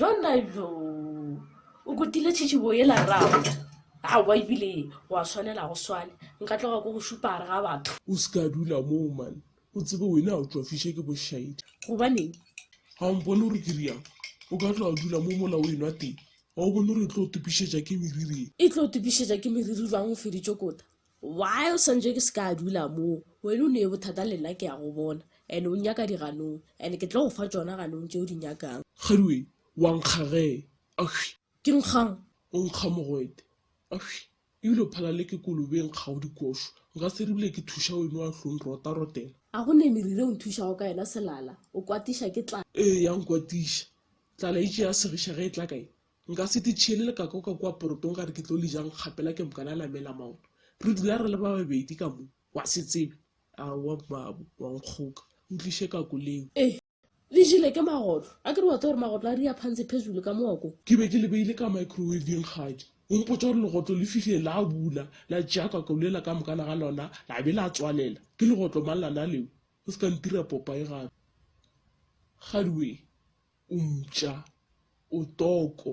Ronaldo o kutile tšhitšhibo yela rrago aowa ebile wa swanela go swane nka tloga ko go šupa gare ga batho o se ka dula moo mane o tsebe wena o tšwafiše ke bošaedi gobaneng ga o mpone gore ke riang o ka tloga dula mo mola o enwa teng Ga o bone gore e tlo topišetša ke meriri? E tlo topišetša ke meriri bang o feditše kota? Why o santše ke se ka dula moo? Wena o nee bothata le nna ke ya go bona and o nyaka diganong and ke tlo go fa tšona ganong tše o di nyakang. Kgadiweng, wa nkga ge? Ahwi. Ke nkgang? O nkga mogwete? Ahwi. Ebile o phala le ke kolobeng kgao dikošo. Nka se ribile ke thuša weno wa hlong rotarotela. A go ne meriri e o nthušago ka yona selala, o kwatiša ke tlala. Ee, ya nkwatiša. Tlala e tšea segiša ge e tla ka ye. Nka se te tšhiele lekaka o ka kua porotong gare ke tlo le jang kgapela ke mokana a namela maoto. Re dula re le ba babedi ka mo. Wa se tsebe? Aowa, mmaabo, wa nkgoka. Ntliše kako leo. Ee. le jele ke magotlo a ke re wa tsa gore magotlo a ria phantse phezulu ka mooko ke be ke le beile ka microwaveng kgadi o mpotsa gore legotlo le fihle la bula la tšea kakaolela ka mokana ga lona la be la tswalela ke legotlo mang lana leo o se ka ntira popa e gape gadiwe o mpša o toko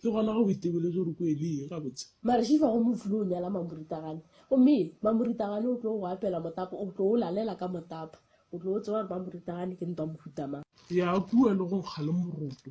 Ke gona ge o itebele gore ko e le eng gabotse. Mareshifa go mo flo o nyala mamoritagane gomme mamoritagane o tlo go apela motapa o tlo o lalela ka motapa o tlo o tseba gore mamoritagane ke ntwa mohutamang. Ya kua le go kga le moroto.